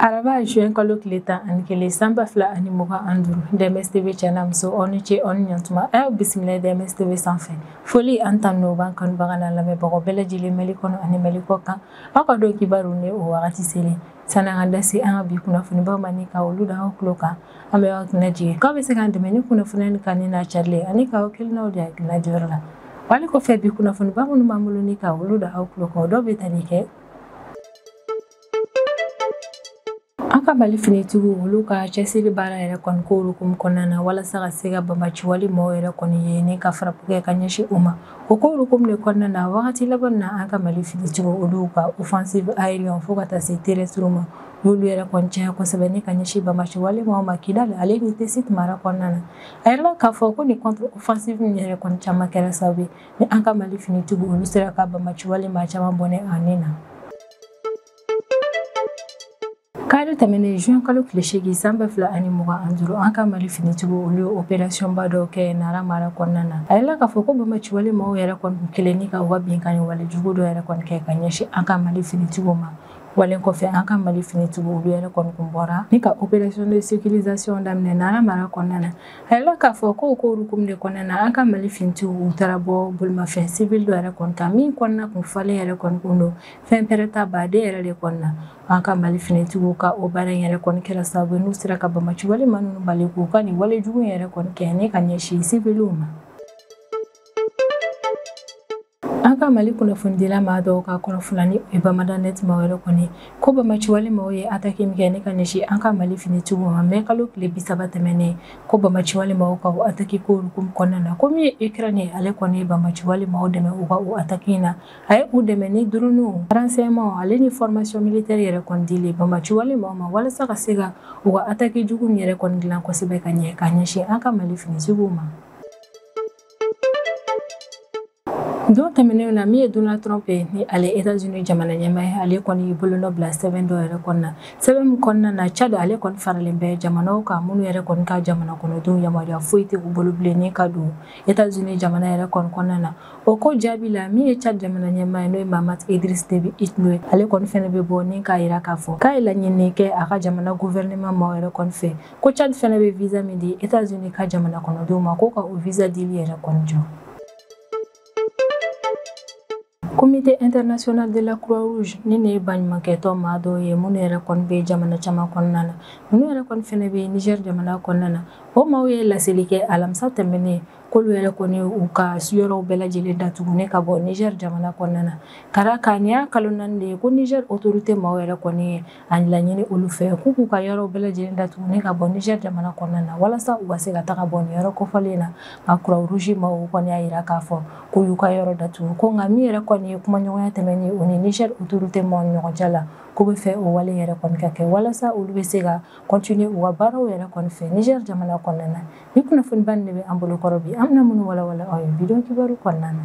araba juin kalo tile tan ani kelen san ba fila ani mugan ani duuru dms tv cɛ n'a muso aw ni ce aw ni ɲantuma a y'aw bisimila dms tv sanfɛ foli ani tanu b'an kanubaga n'an lamɛnbagaw bɛɛ lajɛlen mali kɔnɔ ani mali kɔkan aw ka don kibaru ni o wagati selen Sani an ka da se an ka bi kunnafonibaw ma ni ka olu da aw tulo kan, an bɛ aw kunna jigin k'aw bɛ se k'an dɛmɛ ni kunnafoniya ni kanuni n'a carili ye ani k'aw hakilinaw di hakilina di yɔrɔ la. Wali kɔfɛ bi kunnafoniba minnu b'an bolo ni ka olu da aw tulo kan, o dɔw bɛ tali kɛ An ka Mali finitigiw olu ka cɛsiri baara yɛrɛ kɔni ko hukumu kɔnɔna na walasa ka se ka banbaciwale maaw yɛrɛ kɔni ye ni ka frappe kɛ ka ɲɛsin u ma. O ko hukumu de kɔnɔna na wagati laban na an ka mali finitigiw olu ka offensive aérienne fo ka taa se terrestre ma n'olu yɛrɛ kɔni caya kosɛbɛ ni ka ɲɛsin banbaciwale maaw ma kidal ale ni tessit mara kɔnɔna na a yirala k'a fɔ ko nin contre-offensive min yɛrɛ kɔni caman kɛra sababu ye ni an ka mali finitigiw olu sera ka banbaciwale maa caman bɔnɛ a ni na kalo tɛmɛnen juin kalo tile seegin san ba fila ani mugan ani duuru an ka mali finitigiw olu ye operasiyɔnba dɔw kɛ nara mara kɔnɔna na a yirala k'a fɔ ko banbaciwale maaw yɛrɛ kɔni kun kelen ni ka u ka binkanni wale jugu dɔ yɛrɛ kɔni kɛ ka ɲɛsin an ka mali finitigiw ma walen kɔfɛ an ka mali finitigiw olu yɛrɛ kɔni kun bɔra ni ka opération de sécurisation daminɛ nara mara kɔnɔna na a yirala k'a fɔ ko ko hukumu de kɔnɔna na an ka mali finitigiw u taara bɔ bolimafɛn civil dɔ yɛrɛ kɔni kan min kɔnɔna kun falen yɛrɛ kɔni kun don fɛn pɛrɛnta baden yɛrɛ de kɔnɔna an ka mali finitigiw ka o baara in yɛrɛ kɔni kɛra sababu n'u sera ka banbaciwale maa ninnu bali k'u ka nin wale jugu yɛrɛ kɔni kɛ ni ka ɲɛsin siviliw ma an ka mali kunnafonidila maa dɔw ka kɔrɔfɔ la n'o ye bamada net maaw yɛrɛ kɔni ko banbaciwale maaw ye attaque min kɛ ni ka ɲɛsin an ka mali finitigiw ma mɛ kalo tile bisaba tɛmɛnen ko banbaciwale maaw ka o attaque ko hukumu kɔnɔna na ko min ye ukraine ye ale kɔni ye banbaciwale maaw dɛmɛ u ka o attaque in na a ye u dɛmɛ ni drones renseignements ale ni fɔrmasiyɔn militɛri yɛrɛ kɔni dili banbaciwale maaw ma walasa ka se ka u ka attaque jugu min yɛrɛ kɔni dilan kosɛbɛ ka ɲɛ ka ɲɛsin an ka mali finitigiw ma don tɛmɛnenw na min ye donald trump ye ni ale etats-unis jamana ɲɛmaa ye ale kɔni y'i bolonɔ bila sɛbɛn dɔ yɛrɛ kɔni na sɛbɛn min kɔnɔna na tchad ale kɔni faralen bɛ jamanaw kan minnu yɛrɛ kɔni ka jamana kɔnɔdenw yamaruya foyi tɛ u bolo bilen ni ka don Etats-Unis jamana yɛrɛ kɔni kɔnɔna na o ko jaabi la min ye Tchad jamana ɲɛmaa ye n'o ye Mahamat Idriss Déby Itno ye ale kɔni fɛnɛ bɛ bɔ ni k'a yira k'a fɔ k'a ye laɲini kɛ a ka jamana gouvernement maaw yɛrɛ kɔni fɛ ko Tchad fɛnɛ bɛ visa min di Etats-Unis ka jamana kɔnɔdenw ma k'o ka o visa dili yɛrɛ kɔni jɔ. Comité international de la croix rouge ni ne ye baɲumankɛtɔn maa dɔw ye minnu yɛrɛ kɔni bɛ jamana caman kɔnɔna na minnu yɛrɛ kɔni fɛnɛ bɛ niger jamana kɔnɔna na o maaw ye laseli kɛ alamisa tɛmɛnen k'olu yɛrɛ kɔni u ka yɔrɔw bɛɛ lajɛlen datugu ne ka bɔ niger jamana kɔnɔna na kara ka nin y'a kalo naani de ye ko niger autorité maaw yɛrɛ kɔni ye a laɲini olu fɛ k'u k'u ka yɔrɔ bɛɛ lajɛlen datugu ni ka bɔ Niger jamana kɔnɔna na walasa u ka se ka taga bɔ nin yɔrɔ kofɔlen na nka Croix Rouge maaw kɔni y'a yira k'a fɔ k'u y'u ka yɔrɔ datugu ko nka min yɛrɛ kɔni ye kumaɲɔgɔnya tɛmɛnen o ni Niger autorité maaw ni ɲɔgɔn cɛ la k'u bɛ fɛ o wale yɛrɛ kɔni ka kɛ walasa olu bɛ se ka continuer u ka baaraw yɛrɛ kɔni fɛ Niger jamana kɔnɔna na ni kunnafoniba nin de bɛ an bolo kɔrɔ bi an bɛna minnu walawala aw ye bidon kibaru kɔnɔna na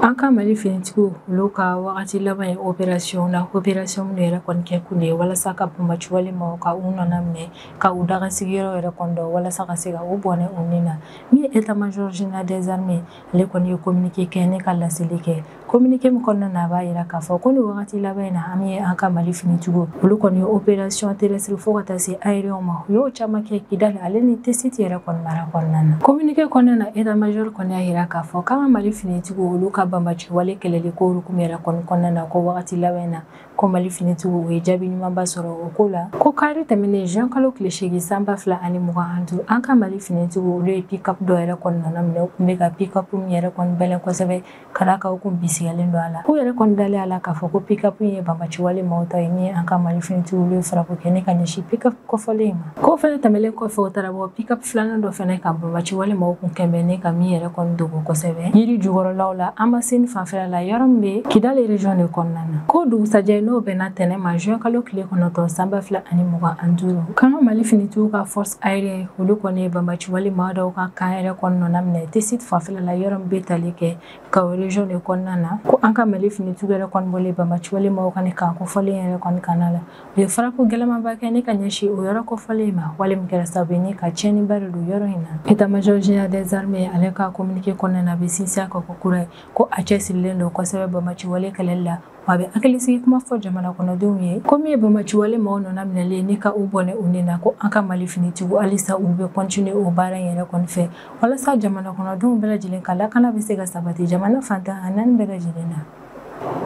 an ka mali finitigiw olu ka wagati laban ye operasiyɔn la operasiyɔn minnu yɛrɛ kɔni kɛ kun de ye walasa ka banbaciwale maaw ka u nɔna minɛ ka u daga sigiyɔrɔ yɛrɛ kɔni dɔn walasa ka se ka u bɔnɛ u ni na min ye état-major général des armées ale kɔni ye kominike kɛ ne ka laseli kɛ Kominike min kɔnɔna na a b'a yira k'a fɔ ko ni wagati laban in na an ye an ka mali finitigiw olu kɔni operasiyɔn terrestre fo ka taa se aérien ma u y'o caman kɛ kidali ale ni tesiti yɛrɛ kɔni mara kɔnɔna na kominike kɔnɔna na état-major kɔni y'a yira k'a fɔ k'an ka mali finitigiw olu ka banbaciwale kɛlɛli ko hukumu yɛrɛ kɔni kɔnɔna na ko wagati laban in na ko mali finitigiw u ye jaabi ɲumanba sɔrɔ o ko la ko kari tɛmɛnen juin kalo tile segin sanba fila ani mugan an duuru an ka mali finitigiw olu ye pikapu dɔ yɛrɛ kɔni nɔna minɛ u tun bɛ ka pikapu min yɛrɛ kɔni bɛlɛn kosɛbɛ ka d'a kan u kun bisigilen don a la k'u yɛrɛ kɔni dalen a la k'a fɔ ko pikapu ye banbaciwale maaw ta ye ni an ka mali finitigiw olu ye frappe kɛ ne ka ɲɛsin pikapu kofɔlen in ma k'o fɛnɛ tɛmɛlen kɔfɛ u taara bɔ pikapu filanan dɔ fɛnɛ kan banbaciwale maaw kun kɛlen bɛ ne ka min yɛrɛ kɔni dogo kosɛbɛ yiri jukɔrɔlaw la amasini fanfɛla la yɔrɔ min bɛ kidali region de kɔnɔna na k'o dugusajɛ n'o bɛnna tɛnɛn ma juin kalo tile kɔnɔntɔn sanba fila ani mugan an duuru k'an ka mali finitigiw ka force aérienne olu kɔni ye banbaci wale maa dɔw ka kan yɛrɛ kɔni nɔna minɛ tesiti fanfɛla la yɔrɔ min bɛ tali kɛ gao région de kɔnɔna na ko an ka mali finitigiw yɛrɛ kɔni bɔlen banbaci wale maaw ka kan kofɔlen yɛrɛ kɔni kan la u ye frappe gɛlɛnmanba kɛ ne ka ɲɛsin o yɔrɔ kofɔlen in ma wale min kɛra sababu ye ne ka tiɲɛniba de don yɔrɔ in na état-major général des armées ale ka kominike kɔnɔna na a bɛ sinsin a kan ko kura ye ko a cɛsirilen don kosɛbɛ banbaci wale kɛlɛ la a bɛ hakilisigi kuma fɔ jamana kɔnɔdenw ye ko min ye banbaciwale maaw nɔna minɛli ye ni ka u bɔnɛ u ni na ko an ka mali finitigiw halisa u bɛ kɔntine o baara in yɛrɛ kɔni fɛ walasa jamana kɔnɔdenw bɛɛ lajɛlen ka lakana bɛ se ka sabati jamana fan tan ni naani bɛɛ lajɛlen na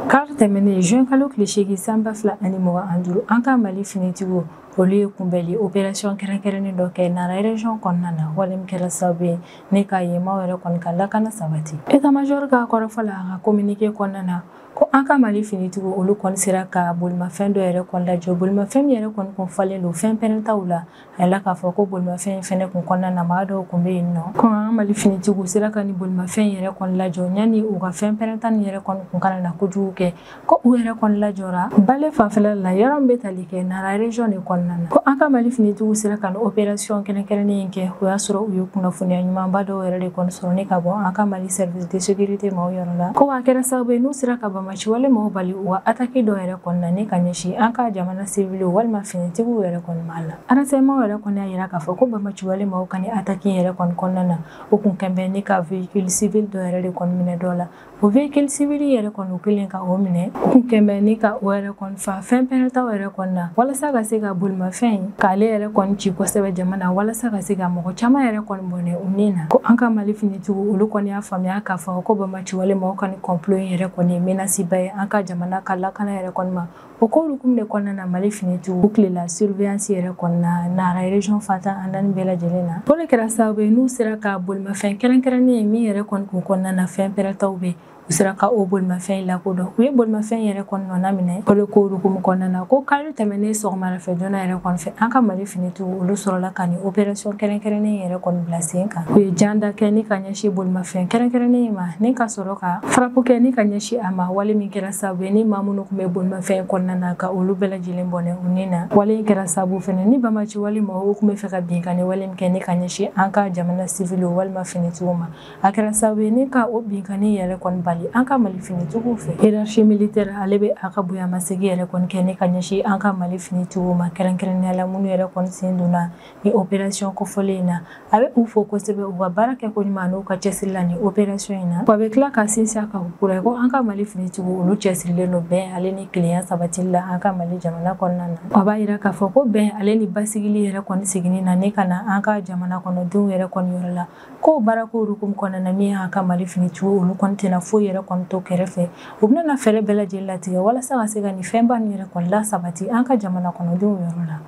kari tɛmɛnen juin kalo tile seegin san ba fila ani mugan an duuru an ka mali finitigiw olu ye kunbɛli operasiyɔn kɛrɛnkɛrɛnnen dɔ kɛ nara erezɔn kɔnɔna na wale min kɛra sababu ye ne ka yen maaw yɛrɛ kɔni ka lakana sabati etamajɔri ka kɔrɔfɔ la a ka kominike kɔnɔna na ko an ka mali finitigiw olu kɔni sera ka bolimafɛn dɔ yɛrɛ kɔni lajɔ bolimafɛn min yɛrɛ kɔni kun falen don fɛn pɛrɛntaw la a yela k'a fɔ ko bolimafɛn fɛnɛ kun kɔnɔna na maa dɔw kun bɛ yen nɔ ko an ka mali finitigiw sera ka ni bolimafɛn yɛrɛ kɔni lajɔ yani u ka fɛn pɛrɛnta ni yɛrɛ kɔni kun kana na kojugu kɛ ko u yɛrɛ kɔni lajɔra bale fanfɛla la yɔrɔ min bɛ tali kɛ nara région de kɔnɔna na ko an ka mali finitigiw sera ka ni operasiyɔn kɛrɛnkɛrɛnnen kɛ o y'a sɔrɔ u ye kunnafoniya ɲumanba dɔw yɛrɛ de kɔni sɔrɔ ni ka bɔ an ka mali service de sécurité maaw yɔrɔ la ko a kɛra sababu ye n'u sera ka bamaci wale maaw bali u ka ataki dɔ yɛrɛ kɔni na ne ka ɲɛsin an ka jamana siwiliw walima finitigiw yɛrɛ kɔni ma la renseignement yɛrɛ kɔni y'a yira k'a fɔ ko bamaci wale maaw ka ni ataki yɛrɛ kɔni kɔnɔna na o kun kɛnbɛn ne ka véhicule civil dɔ yɛrɛ de kɔni minɛ dɔ la o véhicule civil yɛrɛ kɔni u kɛlen ka o minɛ u kun kɛnbɛn ne ka o yɛrɛ kɔni Fa fɛn pɛrɛntaw yɛrɛ kɔni na walasa ka se ka bolimafɛn in k'ale yɛrɛ kɔni ci kosɛbɛ jama na walasa ka se ka mɔgɔ caman yɛrɛ kɔni bɔnɛ u ni na ko an ka mali finitigiw olu kɔni y'a faamuya k'a fɔ ko bamaciwale maaw ka ni kɔnplo in yɛrɛ kɔni ye menasiba ye an ka jamana ka lakana yɛrɛ kɔni ma o ko hukumu de kɔnɔna na mali finitigiw u tilela surveillance yɛrɛ kɔni na nara région fan tan ani naani bɛɛ lajɛlen na o de kɛra sababu ye n'u sera ka bolimafɛn kɛrɛnkɛrɛnnen ye min yɛrɛ kɔni kun kɔnɔna na fɛn pɛrɛntaw bɛ u sera ka o bolimafɛn in lakodɔn u ye bolimafɛn yɛrɛ kɔni nɔna minɛ o de ko hukumu kɔnɔna na ko kari tɛmɛnen sɔgɔmada fɛ joona yɛrɛ kɔni fɛ an ka mali finitigiw olu sɔrɔla ka nin operasiyɔn kɛrɛnkɛrɛnnen yɛrɛ kɔni bila sen kan u ye jan da kɛ ni ka ɲɛsi bolimafɛn kɛrɛnkɛrɛnnen in ma ni ka sɔrɔ ka farapu kɛ ni ka ɲɛsi a ma wale min kɛra sabu ye ni maa minnu kun bɛ bolimafɛn kɔnɔna na ka olu bɛɛ lajɛlen bɔnɛ u ni na wale in kɛra sabu fɛnɛ ni bamaci wale maaw kun bɛ fɛ ka binkanni wale min kɛ ni ka ɲɛsi an ka jamana siviliw walima finitigiw ma a kɛra sababu ye ni ka o binkanni yɛrɛ kɔni bali an ka mali finitigiw fɛ hiérarchie militaire ale bɛ a ka bonyamasegi yɛrɛ kɔni kɛ ni ka ɲɛsin an ka mali finitigiw ma kɛrɛnkɛrɛnnenya la minnu yɛrɛ kɔni sen donna ni opération kofɔlen in na a bɛ u fo kosɛbɛ u ka baara kɛ ko ɲuman n'u ka cɛsiri la ni opération in na wa a bɛ tila ka sinsin a kan kura ye ko an ka mali finitigiw olu cɛsirilen don bɛn ale ni kelenya sabatili la an ka mali jamana kɔnɔna na a b'a yira k'a fɔ ko bɛn ale ni basigili yɛrɛ kɔni seginni na ni ka na an ka jamana kɔnɔdenw yɛrɛ kɔni yɔrɔ la Ko baara ko hukumu kɔnɔna na min y'an ka Mali finitigiw olu kɔni tɛna foyi yɛrɛ kɔni to kɛrɛfɛ u bɛna fɛɛrɛ bɛɛ lajɛlen latigɛ walasa ka se ka nin fɛnba ninnu yɛrɛ kɔni lasabati an ka jamana kɔnɔdenw yɔrɔ la.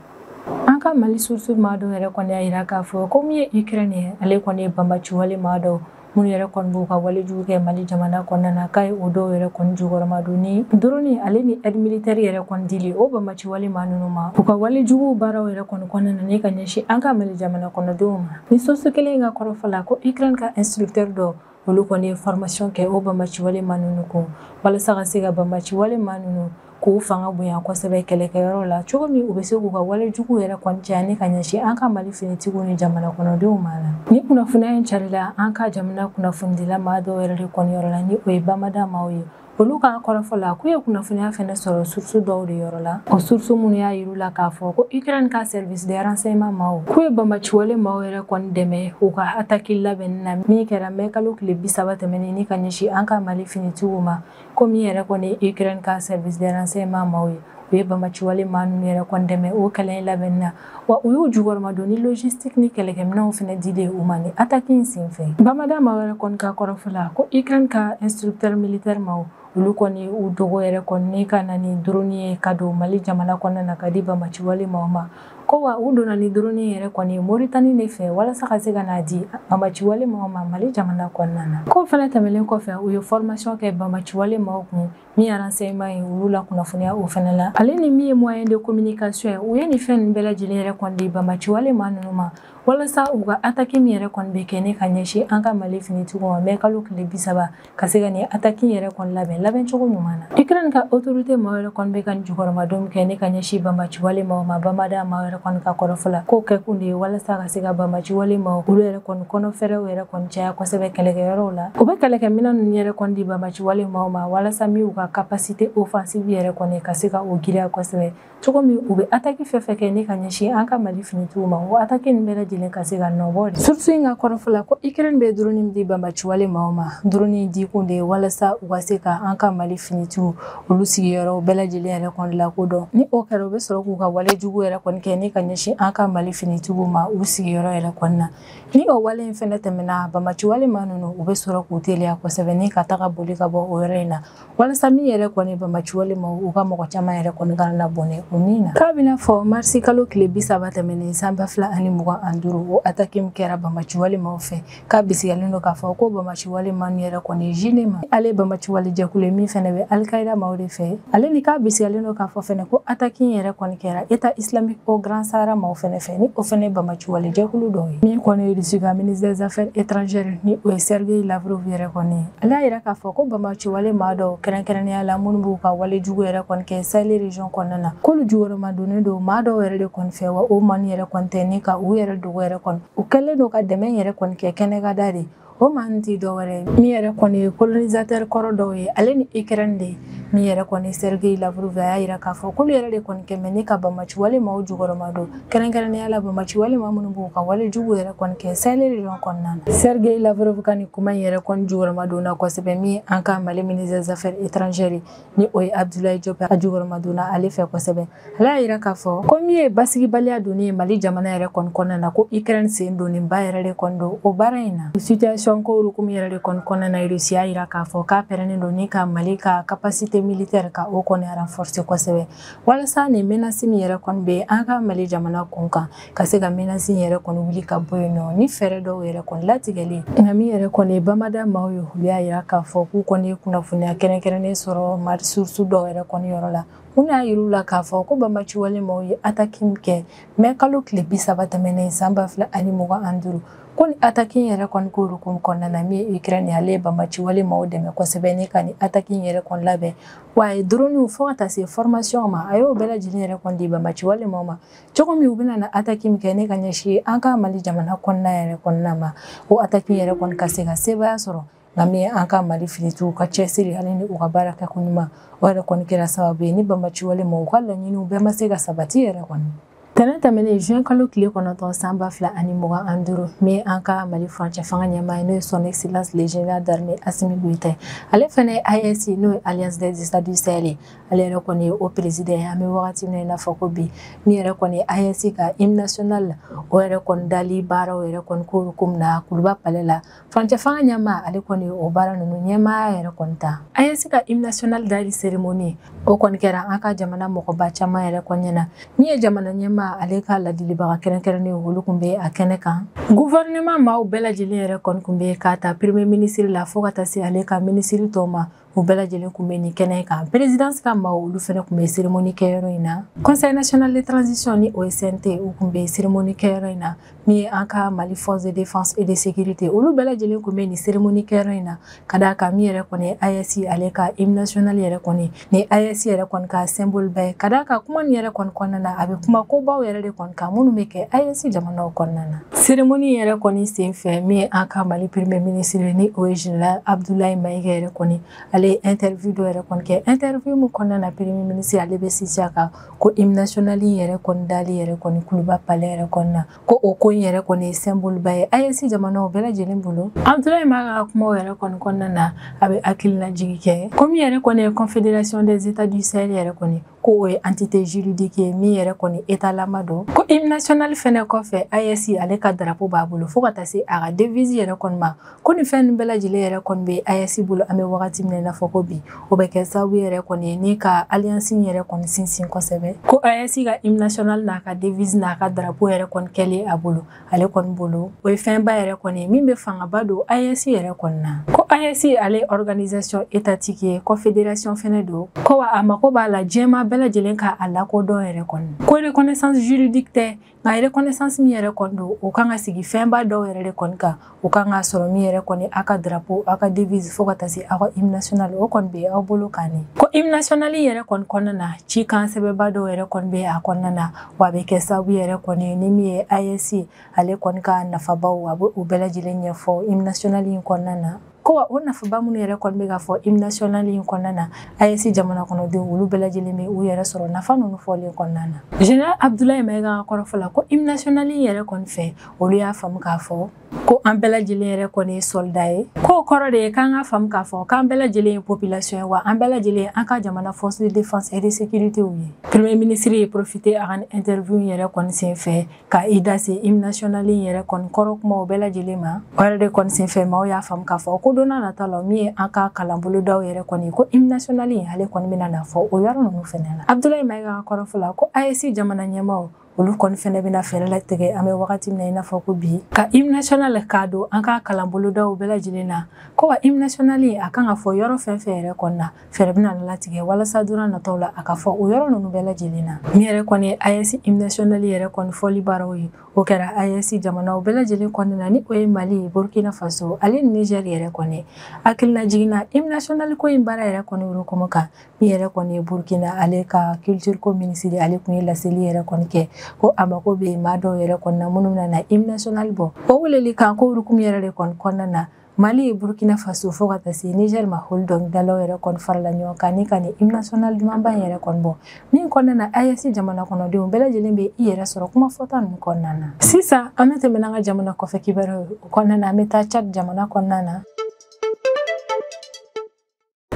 An ka Mali source maa dɔw yɛrɛ kɔni y'a yira k'a fɔ ko min ye Ukraine ye ale kɔni ye banbaciwale maa dɔw minnu yɛrɛ kɔni b'u ka walejugu kɛ Mali jamana kɔnɔna na k'a ye o dɔw yɛrɛ kɔni jukɔrɔma don ni drone ale ni aide militaire yɛrɛ kɔni dili o banbaciwale maa ninnu ma u ka walejugu baaraw yɛrɛ kɔni kɔnɔna na ni ka ɲɛsin an ka Mali jamana kɔnɔdenw ma. Ni source kelen in ka kɔrɔfɔ la ko Ukraine ka instructeur dɔw olu kɔni ye formation kɛ o banbaciwale maa ninnu kun walasa ka se ka banbaciwale maa ninnu k'u fanga bonya kosɛbɛ kɛlɛkɛyɔrɔ la cogo min u bɛ se k'u ka wale jugu yɛrɛ kɔni caya ni ka ɲɛsin an ka mali finitigiw ni jamana kɔnɔdenw ma la ni kunnafoniya in carila an ka jamana kunnafonidila maa dɔw yɛrɛ de kɔni yɔrɔ la ni o ye bamada maaw ye olu ka kɔrɔfɔ la k'u ye kunnafoniya fɛnɛ sɔrɔ source dɔw de yɔrɔ la o source minnu y'a yir'u la k'a fɔ ko ukraine ka service de renseignement maaw k'u ye banbaciwale maaw yɛrɛ kɔni dɛmɛ u ka ataki labɛnni na min kɛra mɛ kalo tile bisaba tɛmɛnen ni ka ɲɛsin an ka mali finitigiw ma ko min yɛrɛ kɔni ukraine ka service de renseignement maaw ye u ye banbaciwale maa ninnu yɛrɛ kɔni dɛmɛ o kɛlɛ in labɛnni na wa u y'u jukɔrɔmadon ni logistique ni kɛlɛkɛminɛnw fɛnɛ dilen u ma ni ataki in senfɛ bamada maaw yɛrɛ kɔni ka kɔrɔfɔ la ko ukraine ka instructeur militaire maaw olu kɔni u dogo yɛrɛ kɔni ni ka na ni droni ye ka don mali jamana kɔnɔna na ka di bamaciwale maaw ma ko wa u donna ni droni yɛrɛ kɔni moritani de fɛ walasa ka se ka n'a di bamaciwale maaw ma mali jamana kɔnɔna na k'o fɛnɛ tɛmɛlen kɔfɛ u ye formation kɛ bamaciwale maaw kun min ye renseignement ye olu la kunnafoniya o fɛnɛ la ale ni min ye moyen de communication ye u ye nin fɛn ninnu bɛɛ lajɛlen yɛrɛ kɔni di bamaci wale maa ninnu ma walasa u ka ataki min yɛrɛ kɔni bɛ kɛ ne ka ɲɛsin an ka mali finitigiw ma mɛ kalo tile bi saba ka se ka nin ataki yɛrɛ kɔni labɛn labɛn cogo ɲuman na ukraine ka autorité maaw yɛrɛ kɔni bɛ ka nin jukɔrɔmadon kɛ ne ka ɲɛsin bamaci wale maaw ma bamada maaw yɛrɛ kɔni ka kɔrɔfɔ la k'o kɛkun de ye walasa ka se ka bamaci wale maaw olu yɛrɛ kɔni kɔnɔfɛɛrɛw yɛrɛ kɔni caya kosɛbɛ kɛlɛkɛyɔrɔw la u bɛ kɛlɛkɛminɛ ninnu yɛrɛ kɔni di bamaci wale maaw ma walasa min u ka capacité offensive yɛrɛ kɔni ka se ka o giriya kosɛbɛ cogo min u bɛ ataki fɛn fɛn kɛ ne ka ɲɛsin an ka mali finitigiw ma o ataki nin bɛɛ lajɛlen ka se ka nɔbɔ de source in ka kɔrɔfɔ la ko ukraine bɛ droni di bamaci wale maaw ma droni dikun de ye walasa u ka se ka an ka mali finitigiw olu sigiyɔrɔw bɛɛ lajɛlen yɛrɛ kɔni lakodɔn ni o kɛra u bɛ sɔrɔ k'u ka wale jugu yɛrɛ kɔni kɛ ni ka ɲɛsin an ka mali finitigiw ma u sigiyɔrɔ yɛrɛ kɔni na ni o wale in fɛnɛ tɛmɛna bamaci wale maa ninnu u bɛ sɔrɔ k'u teliya kosɛbɛ ni ka taga boli ka bɔ o yɔrɔ in na walasa min yɛrɛ kɔni bamaci wale maaw ka mɔgɔ caman yɛrɛ kɔni kana na bɔnɛ o min na k'a bɛna fɔ marisi kalo tile bi saba tɛmɛnen san ba fila ani mugan ani duuru o ataki min kɛra bamaci wale maaw fɛ k'a bisigalen don k'a fɔ ko bamaciwale maa min yɛrɛ kɔni ye jnim ale bamaciwale jɛkulu ye min fɛnɛ bɛ al-qaïda maaw de fɛ ale ni k'a bisigalen don k'a fɔ fɛnɛ ko ataki in yɛrɛ kɔni kɛra état islamique au grand sahara maaw fɛnɛ fɛ ni o fɛnɛ bamaciwale jɛkulu dɔ ye min kɔni ye russie ka ministre des affaires étrangères ni o ye sergei lavrov yɛrɛ kɔni ye ale y'a yira k'a fɔ ko bamaciwale maa dɔw kɛrɛnkɛrɛnnenya la minnu b'u ka wale jugu yɛrɛ kɔni kɛ sahel région kɔnɔna na k'olu jukɔrɔmadonnen don maa dɔw yɛrɛ de kɔni fɛ wa o maa ninnu yɛrɛ kɔni tɛ ni ka u yɛrɛ dogo yɛrɛ kɔni u kɛlen don ka dɛmɛ yɛrɛ kɔni kɛ kɛnɛkanda de o maa tɛ dɔwɛrɛ ye min yɛrɛ kɔni ye colonisateur kɔrɔ dɔw ye ale ni ukraine de min yɛrɛ kɔni sergei lavrov a y'a yira k'a fɔ k'olu yɛrɛ de kɔni kɛlen bɛ ni ka bamaci wale maaw jukɔrɔma don kɛrɛnkɛrɛnnenya la bamaci wale maa minnu b'u ka wale jugu yɛrɛ kɔni kɛ sahel région kɔnɔna na sergei lavrov ka nin kuma in yɛrɛ kɔni jukɔrɔma donna kosɛbɛ min an ka mali ministre des affaires étrangères ni o ye abudulayi jɔp a jukɔrɔmadonna ale fɛ kosɛbɛ ale y'a yira k'a fɔ ko min ye basigibaliya donni ye mali jamana yɛrɛ kɔni kɔnɔna na ko ukraine sen donnenba yɛrɛ de kɔni don o baara in na situation ko hukumu yɛrɛ de kɔni kɔnɔna na rusi y'a yira k'a fɔ k'a pɛrɛnnen don ni ka mali ka capacité militaire ka o kɔni renforcer kosɛbɛ walasa nin menace min yɛrɛ kɔni bɛ an ka mali jamana kun kan ka se ka menasi yɛrɛ kɔni wuli ka bɔ yen nɔ ni fɛɛrɛ dɔw yɛrɛ kɔni latigɛlen nka min yɛrɛ kɔni ye bamada maaw ye olu y'a yira k'a fɔ k'u kɔni ye kunnafoniya kɛrɛnkɛrɛnnen sɔrɔ mari source dɔw yɛrɛ kɔni yɔrɔ la mun y'a yir'u la k'a fɔ ko banbaanciwale maaw ye ataki min kɛ mɛ kalo tile bi saba tɛmɛnen san ba fila ani mugan ani duuru ko ni ataki in yɛrɛ kɔni ko hukumu kɔnɔna na min ye ukraine ale ye banbaanciwale maaw dɛmɛ kosɛbɛ ni ka ni ataki in yɛrɛ kɔni labɛn wa a ye droniw fɔɔ ka taa se formation ma a y'o bɛɛ lajɛlen yɛrɛ kɔni di banbaanciwale maaw ma cogo min u bɛna na ataki min kɛ ni ka ɲɛsin an ka mali jamana kɔnɔna yɛrɛ kɔnɔna ma o ataki yɛrɛ kɔni ka se ka sebaya sɔrɔ nka min an ka mali finitigiw ka cɛsiri ani ni u ka baara kɛ ko ɲuman o yɛrɛ kɔni kɛra sababu ye ni banbaanciwale maaw ka laɲiniw bɛɛ ma se ka sabati yɛrɛ kɔni tɛnɛn tɛmɛnen juin kalo tile kɔnɔntɔn san ba fila ani mugan ani duuru min an ka mali furancɛ fanga ɲɛmaa ye n'o ye son excellence le général d'armée asimi goyita ye ale fana ye AES n'o ye alliance des états du sahel ye ale yɛrɛ kɔni ye o président ye an bɛ wagati min na i n'a fɔ ko bi min yɛrɛ kɔni ye AES ka hymne national o yɛrɛ kɔni dali baaraw yɛrɛ kɔni ko ko na kuluba palais la furancɛ fanga ɲɛmaa ale kɔni ye o baara ninnu ɲɛmaaya yɛrɛ kɔni ta AES ka hymne national dali seremoni o kɔni kɛra an ka jamana mɔgɔba caman yɛrɛ kɔni ɲɛna min ye jamana ɲɛmaa ale ka ladilibaga kɛrɛnkɛrɛnnen olu tun bɛ a kɛnɛ kan gouvernement maaw bɛɛ lajɛlen yɛrɛ kɔni tun bɛ k'a ta premier minisiri la fo ka taa se ale ka minisiri tɔw ma u bɛɛ lajɛlen kun bɛ nin kɛnɛ kan perezidansi ka maaw olu fana kun bɛ seremoni kɛyɔrɔ in na conseil national de transition ni o ye CNT u kun bɛ seremoni kɛyɔrɔ in na min ye an ka mali force de défense et de sécurité olu bɛɛ lajɛlen kun bɛ nin seremoni kɛyɔrɔ in na ka d'a kan min yɛrɛ kɔni AES ale ka hymne national yɛrɛ kɔni ni AES yɛrɛ kɔni ka symbole ba ye ka d'a kan kuma nin yɛrɛ kɔni kɔnɔna na a bɛ kuma kobaw yɛrɛ de kɔni kan minnu bɛ kɛ AES jamanaw kɔnɔna na seremoni yɛrɛ kɔni senfɛ min ye an ka mali premier ministre ye ni o ye général abdoulaye maïga yɛrɛ kɔni ale ye interview dɔ yɛrɛ kɔni kɛ interview min kɔnɔna na premier ministre ale bɛ sinsin a kan ko hymne national in yɛrɛ kɔni dali yɛrɛ kɔni kuluba palais yɛrɛ kɔni na ko o ko in yɛrɛ kɔni ye symbole ba ye AES jamanaw bɛɛ lajɛlen bolo abdoulaye maïga ka kumaw yɛrɛ kɔni kɔnɔna na a bɛ hakililajigi kɛ ko min yɛrɛ kɔni ye confédération des états du sahel yɛrɛ kɔni k'o ye entité juridique ye min yɛrɛ kɔni état lama don ko hymne national fɛnɛ kɔfɛ AES ale ka drapeau b'a bolo fɔɔ ka taa se a ka devise yɛrɛ kɔni ma ko nin fɛn nin bɛɛ lajɛlen yɛrɛ kɔni bɛ AES bolo an bɛ wagati min na i n'a fɔ ko bi o bɛ kɛ sababu yɛrɛ kɔni ye ni ka alliance yɛrɛ kɔni sinsin kosɛbɛ ko AES ka hymne national n'a ka devise n'a ka drapeau yɛrɛ kɔni kɛlen a bolo ale kɔni bolo o ye fɛnba yɛrɛ kɔni ye min bɛ fangaba don AES yɛrɛ kɔni na ko AES ale ye organisation étatique ye confédération fɛnɛ don ko wa a mako b'a la diɲɛmaa bɛɛ lajɛlen ka a lakodɔn yɛrɛ kɔni ko reconnaissance juridique tɛ nka reconnaissance min yɛrɛ kɔni don o kan ka sigi fɛnba dɔw yɛrɛ de kɔni kan o kan ka sɔrɔ min yɛrɛ kɔni aw ka drapeau aw ka devise fo ka taa se aw ka hymne national o kɔni bɛ aw bolo kan ne ko hymne national yɛrɛ kɔni kɔnɔna na cikan sɛbɛba dɔw yɛrɛ kɔni bɛ a kɔnɔna na wa a bɛ kɛ sababu yɛrɛ kɔni ni min ye AES ale kɔni ka nafabaw a bɛ u bɛɛ lajɛlen ɲɛfɔ hymne national in kɔnɔna na ko wa o nafaba minnu yɛrɛ kɔni bɛ ka fɔ hymne national in kɔnɔna na AES jamana kɔnɔdenw olu bɛɛ lajɛlen bɛ u yɛrɛ sɔrɔ nafa ninnu fɔlen kɔnɔna na général Abdoulaye Maïga ka kɔrɔfɔ la ko hymne national in yɛrɛ kɔni fɛ olu y'a faamu k'a fɔ ko an bɛɛ lajɛlen yɛrɛ kɔni ye soldat ye k'o kɔrɔ de ye k'an k'a faamu k'a fɔ k'an bɛɛ lajɛlen ye population ye wa an bɛɛ lajɛlen an ka jamana force de défense et de sécurité ye premier ministre ye profité a ka interview yɛrɛ kɔni sen fɛ ka i da se hymne national in yɛrɛ kɔni kɔrɔ kumaw bɛɛ lajɛlen ma o yɛrɛ de kɔni sen fɛ maaw y'a faamu k'a fɔ ko donna nata la min ye an ka kalanbolodaw yɛrɛ kɔni ko hymne national in ale kɔni bɛna na fɔ o yɔrɔ ninnu fɛnɛ na abdoulaye maïga ka kɔrɔfɔ la ko AES jamana ɲɛmaaw olu kɔni fɛnɛ bɛna fɛɛrɛ latigɛ an bɛ wagati min na i n'a fɔ ko bi ka hymne national k'a don an ka kalanbolodaw bɛɛ lajɛlen na ko wa hymne national a kan ka fɔ yɔrɔ fɛn fɛn yɛrɛ kɔni na fɛɛrɛ bɛna latigɛ walasa donna nataw la a ka fɔ o yɔrɔ ninnu bɛɛ lajɛlen na min yɛrɛ kɔni ye AES hymne national yɛrɛ kɔni fɔli baaraw ye o kɛra AES jamanaw bɛɛ lajɛlen kɔnɔna na ni o ye mali burkina faso ale ni niger yɛrɛ kɔni hakilinajigin na hymne national ko in baara yɛrɛ kɔni hukumu kan min yɛrɛ kɔni ye burkina ale ka culture ko minisiri ale tun ye laseli yɛrɛ kɔni kɛ ko a mako bɛ maa dɔw yɛrɛ kɔni na minnu bɛna na hymne national bɔ o weleli kan ko hukumu yɛrɛ de kɔni kɔnɔna na mali burkina faso fo ka taa se niger ma olu dɔnkilidalaw yɛrɛ kɔni farala ɲɔgɔn kan ni ka nin hymne national dumanba in yɛrɛ kɔni bɔ min kɔnɔna na AES jamana kɔnɔdenw bɛɛ lajɛlen bɛ i yɛrɛ sɔrɔ kuma fɔta ninnu kɔnɔna na sisan an bɛ tɛmɛn an ka jamana kɔfɛ kibaruyaw kɔnɔna na an bɛ taa tchad jamana kɔnɔna na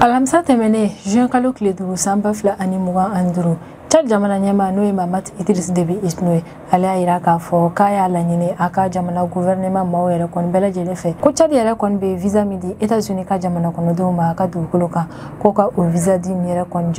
alamisa tɛmɛnen juin kalo tile duuru san ba fila ani mugan ani duuru tchad jamana ɲɛmaa n'o ye mahamat idriss déby itno ye ale y'a yira k'a fɔ k'a y'a laɲini a ka jamana gouvernement maaw yɛrɛ kɔni bɛɛ lajɛlen fɛ ko tchad yɛrɛ kɔni bɛ visa min di états-unis ka jamana kɔnɔdenw ma a ka dugukolo kan ko ka o visa di nin yɛrɛ kɔni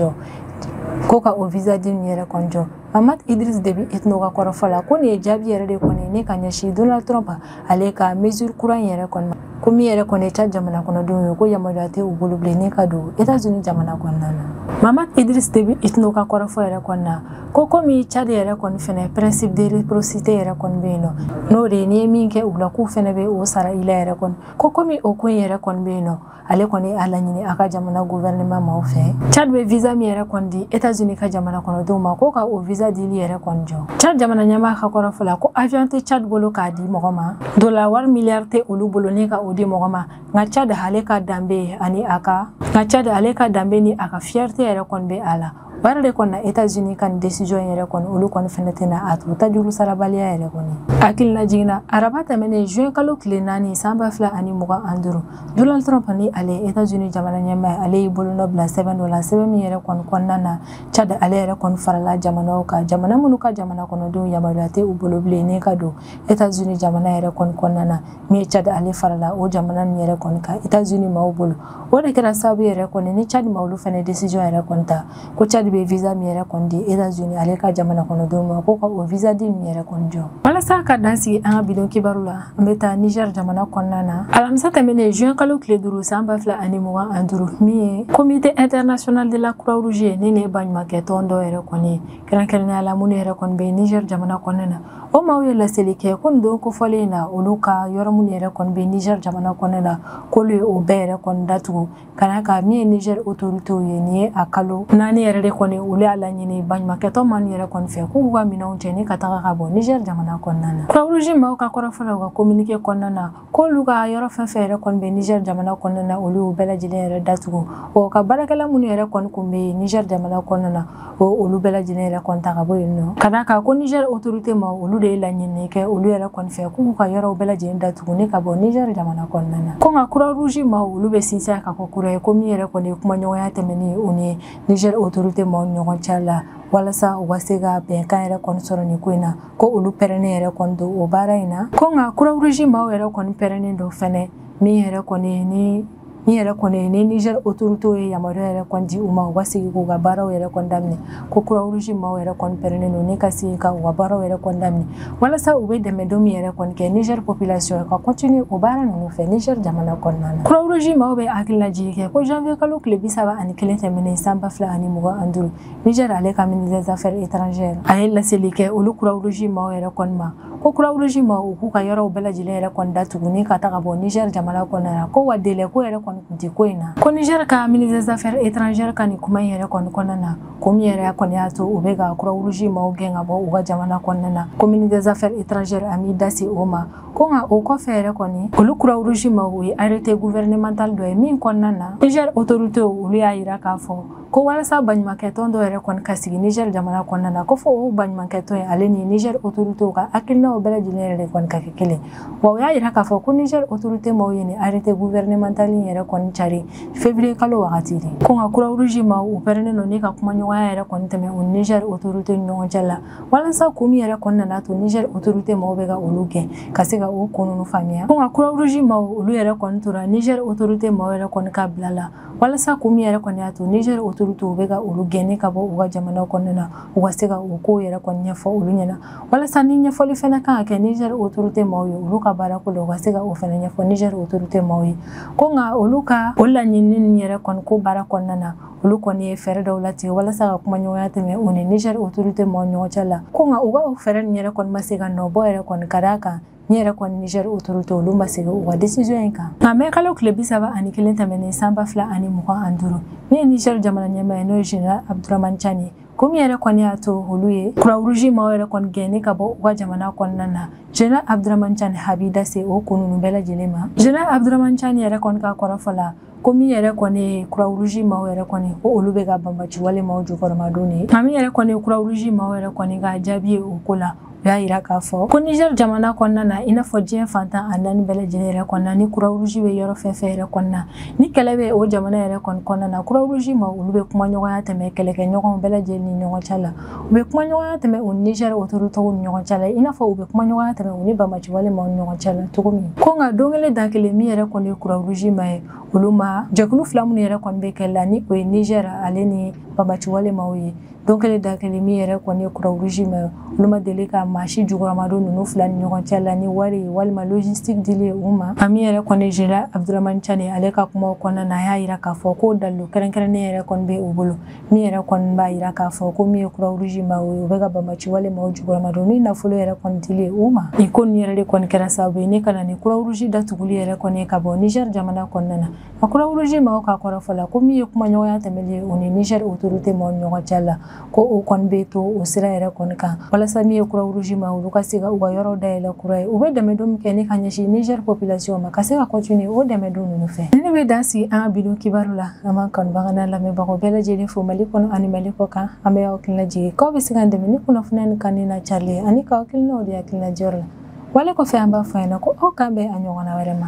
jɔ Mahamat Idriss Déby Itno ka kɔrɔfɔ la ko nin ye jaabi yɛrɛ de kɔni ni ka ɲɛsin Donald Trump ale ka mesure kura in yɛrɛ kɔni ma ko min yɛrɛ kɔni ye Tchad jamana kɔnɔdenw ye ko yamaruya tɛ u bolo bilen ni ka don États-Unis jamana kɔnɔna na Mahamat Idriss Déby Itno ka kɔrɔfɔ yɛrɛ kɔni na ko komi Tchad yɛrɛ kɔni fɛnɛ principe de réciprocité yɛrɛ kɔni bɛ yen nɔ n'o de ye n'i ye min kɛ u la k'u fɛnɛ bɛ o sara i la yɛrɛ kɔni ko komi o ko in yɛrɛ kɔni bɛ yen nɔ ale kɔni y'a laɲini a ka jamana gouvernement maaw fɛ Tchad bɛ visa min yɛrɛ kɔni di États-Unis ka jamana kɔnɔdenw ma ko ka o visa dili yɛrɛ kɔni jɔ Tchad jamana ɲɛmaa ka kɔrɔfɔ la ko avion tɛ Tchad bolo k'a di mɔgɔ ma dola wari miliyari tɛ olu bolo ni ka o di mɔgɔ ma nka Tchad ale ka danbe ani a ka nka Tchad ale ka danbe ni a ka fierté yɛrɛ kɔni bɛ a la o yɛrɛ de kɔni na etazini ka nin décision in yɛrɛ kɔni olu kɔni fɛnɛ tɛna a to tajuru sarabaliya yɛrɛ kɔni hakilinajigin na araba tɛmɛnen juin kalo tile naani san ba fila ani mugan ani duuru donald trump ni ale etazini jamana ɲɛmaa ale y'i bolonɔ bila sɛbɛn dɔ la sɛbɛn min yɛrɛ kɔni kɔnɔna na tchad ale yɛrɛ kɔni farala jamanaw kan jamana minnu ka jamana kɔnɔdenw yamaruya tɛ u bolo bilen ni ka don etazini jamana yɛrɛ kɔni kɔnɔna na min ye tchad ale farala o jamana nin yɛrɛ kɔni kan etazini maaw bolo o de kɛra sababu yɛrɛ kɔni ni tchad maaw olu fɛnɛ décision yɛrɛ kɔni ta ko tchad bɛ visa min yɛrɛ kɔni di états-unis ale ka jamana kɔnɔdenw ma ko ka o visa dili yɛrɛ kɔni jɔ walasa ka dan sigi an ka bi don kibaru la an bɛ taa niger jamana kɔnɔna na alamisa tɛmɛnen juin kalo tile duuru san ba fila ani mugan ani duuru min ye comité international de la croix rouge ye nin ye baɲumankɛ tɔn dɔ yɛrɛ kɔni kɛrɛnkɛrɛnnenya la minnu yɛrɛ kɔni bɛ niger jamana kɔnɔna na o maaw ye laseli kɛ ko nin don kofɔlen in na olu ka yɔrɔ minnu yɛrɛ kɔni bɛ niger jamana kɔnɔna na k'olu ye o bɛɛ yɛrɛ kɔni datugu ka d'a kan min ye niger autoritéw ye nin ye a kalo naani yɛrɛ de kɔni olu y'a laɲini baɲumankɛ tɔn maaw yɛrɛ kɔni fɛ k'u ka minɛnw cɛ ni ka taga ka bɔ niger jamana kɔnɔna na croix rouge maaw ka kɔrɔfɔ la u ka communiqué kɔnɔna na k'olu ka yɔrɔ fɛn fɛn yɛrɛ kɔni bɛ niger jamana kɔnɔna na olu y'u bɛɛ lajɛlen yɛrɛ datugu o ka baarakɛla minnu yɛrɛ kɔni kun bɛ niger jamana kɔnɔna na o olu bɛɛ lajɛlen yɛrɛ kɔni ta ka bɔ yen nɔ ka d'a kan ko niger autorité maaw olu de ye laɲini kɛ olu yɛrɛ kɔni fɛ k'u ka yɔrɔw bɛɛ lajɛlen datugu ni ka bɔ niger jamana kɔnɔna na ko nka croix rouge maaw olu bɛ sinsin kan kokura ye ko min yɛrɛ kɔni ye kumaɲɔgɔnya tɛmɛni o ni niger autorité maaw ɲɔgɔn cɛ la walasa u ka se ka bɛnkan yɛrɛ kɔni sɔrɔ nin ko in na ko olu pɛrɛnnen yɛrɛ kɔni don o baara in na ko nka croix rouge maaw yɛrɛ kɔni pɛrɛnnen don fɛnɛ min yɛrɛ kɔni ni min yɛrɛ kɔni ni niger autoritéw ye yamaruya yɛrɛ kɔni di u ma u ka sigi k'u ka baaraw yɛrɛ kɔni daminɛ ko croix rouge maaw yɛrɛ kɔni pɛrɛnnen don ni ka sigi ka u ka baaraw yɛrɛ kɔni daminɛ walasa u bɛ dɛmɛdon min yɛrɛ kɔni kɛ niger population ka continuer o baara ninnu fɛ niger jamana kɔnɔna na croix rouge maaw bɛ hakililajigi kɛ ko janvier kalo tile bi saba ani kelen tɛmɛnen san ba fila ani mugan ani duuru Niger ale ka ministre des affaires étrangères a ye laseli kɛ olu Croix Rouge maaw yɛrɛ kɔni ma ko Croix Rouge maaw k'u ka yɔrɔw bɛɛ lajɛlen yɛrɛ kɔni datugu ni ka taga bɔ Niger jamana kɔnɔna na ko wa délai ko yɛrɛ kɔni tun tɛ ko in na ko Niger ka ministre des affaires étrangères ka nin kuma in yɛrɛ kɔni kɔnɔna na ko min yɛrɛ kɔni y'a to u bɛ ka Croix Rouge maaw gɛn ka bɔ u ka jamana kɔnɔna na ko ministre des affaires étrangères a m'i da se o ma ko nka o kɔfɛ yɛrɛ kɔni olu Croix Rouge maaw ye arrêté gouvernemental dɔ ye min kɔnɔna na Niger autorités olu y'a jira k'a fɔ ko walasa baɲumankɛtɔn dɔ yɛrɛ kɔni ka sigi niger jamana kɔnɔna na ko fɔ o baɲumankɛtɔn ye ale ni niger autoritew ka hakilinaw bɛɛ lajɛlen yɛrɛ de kɔni ka kɛ kelen wa o y'a yira k'a fɔ ko niger autorite maw ye nin arrete gouvernemental in yɛrɛ kɔni cari février kalo wagati de ko nka croix rouge maw pɛrɛnnen don ni ka kumaɲɔgɔnya yɛrɛ kɔni tɛmɛ o niger autorite ni ɲɔgɔn cɛ la walasa ko min yɛrɛ kɔni nana to niger autorite maw bɛ ka olu gɛn ka se ka o ko ninnu faamuya ko nka croix rouge maw olu yɛrɛ kɔni tora niger autorite maw yɛrɛ kɔni ka bila la walasa ko min yɛrɛ kɔni y'a to nizɛri otorite u bɛ ka olu gɛn ni ka bɔ u ka jamana kɔnɔna na u ka se ka o ko yɛrɛ kɔni ɲɛfɔ olu ɲɛna walasa ni ɲɛfɔli fana kan ka kɛ nizɛri otorite maaw ye olu ka baara ko la u ka se ka o fana ɲɛfɔ nizɛri otorite maaw ye ko nka olu ka o laɲinini ninnu yɛrɛ kɔni ko baara kɔnɔna na olu kɔni ye fɛɛrɛ dɔw latigɛ walasa ka kumaɲɔgɔnya tɛmɛ u ni nizɛri otorite maaw ɲɔgɔn cɛ la ko nka u ka o fɛɛrɛ ninnu yɛrɛ kɔni ma se ka nɔ bɔ yɛrɛ kɔni ka d'a kan ni yɛrɛ kɔni nizɛri otorite olu ma segin u ka desiziyɔn in kan nka mɛ kalo tile bi saba ani kelen tɛmɛnen san ba fila ani mugan ani duuru min ye nizɛri jamana ɲɛmaa ye n'o ye general abduraman cani ye ko min yɛrɛ kɔni y'a to olu ye croix rouge maaw yɛrɛ kɔni gɛn ni ka bɔ u ka jamana kɔnɔna na general abduraman cani a b'i da se o ko ninnu bɛɛ lajɛlen ma general abduraman cani yɛrɛ kɔni ka kɔrɔfɔ la ko min yɛrɛ kɔni ye croix rouge maaw yɛrɛ kɔni ko olu bɛ ka banbaci wale maaw jukɔrɔmadon de nka min yɛrɛ kɔni ye croix rouge maaw yɛrɛ kɔni ka jaabi ye o ko la u y'a yira k'a fɔ ko niger jamana kɔnɔna na i n'a fɔ diɲɛ fan tan ni naani bɛɛ lajɛlen yɛrɛ kɔnɔna ni croix rouge bɛ yɔrɔ fɛn fɛn yɛrɛ kɔnɔna ni kɛlɛ bɛ o jamana yɛrɛ kɔni kɔnɔna na croix rouge maaw olu bɛ kumaɲɔgɔnya tɛmɛ kɛlɛkɛɲɔgɔnw bɛɛ lajɛlen ni ɲɔgɔn cɛ la u bɛ kumaɲɔgɔnya tɛmɛ u ni nizɛri otoritew ni ɲɔgɔn cɛ la i n'a fɔ u bɛ kumaɲɔgɔnya tɛmɛ u ni banbaci wale maaw ni ɲɔgɔn cɛ la cogo min ko nka don kelen da kelen min yɛrɛ kɔni ye croix rouge maaw ye olu ma jɛkulu fila minnu yɛrɛ kɔni bɛ kɛlɛ la ni o ye nizɛri ale ni banbaci wale maaw ye don kelen da kelen min yɛrɛ kɔni ye croix rouge maaw ye olu ma deli ka maa si jukɔrɔmadon ninnu fila ni ɲɔgɔn cɛ la ni wari ye walima logistique dili ye u ma a min yɛrɛ kɔni general abudramani cani ale ka kumaw kɔnɔna na a y'a yira k'a fɔ ko dalilu kɛrɛnkɛrɛnnen yɛrɛ kɔni bɛ u bolo min yɛrɛ kɔni b'a yira k'a fɔ ko min ye croix rouge maaw ye u bɛ ka banbaci wale maaw jukɔrɔmadon ni nafolo yɛrɛ kɔni dili u ma nin ko nin yɛrɛ de kɔni kɛra sababu ye ni ka na ni croix rouge datuguli yɛrɛ kɔni ye ka bɔ niger jamana kɔnɔna na a croix rouge maaw ka kɔrɔfɔ la ko min ye kumaɲɔgɔnya tɛmɛli ye u ni niger autorité maaw ɲɔgɔn cɛ la ko o kɔni bɛ to o sira yɛrɛ kɔni kan walasa min ye croix rouge maaw olu ka se ka u ka yɔrɔ dayɛlɛ kura ye u bɛ dɛmɛdon min kɛ ni ka ɲɛsin niger population ma ka se ka continuer o dɛmɛdon ninnu fɛ nin bɛ dan sigi an ka bi don kibaru la An b'an kanubagaw n'an lamɛnbagaw bɛɛ lajɛlen fo Mali kɔnɔ ani Mali kɔkan an bɛ aw hakili lajigin k'aw bɛ se k'an dɛmɛ ni kunnafoniya ni kan nin lacari ye ani k'aw hakilinaw di hakilina diyɔrɔ la wale kɔfɛ an b'a fɔ a ɲɛna ko aw k'an bɛn a ɲɔgɔnna wɛrɛ ma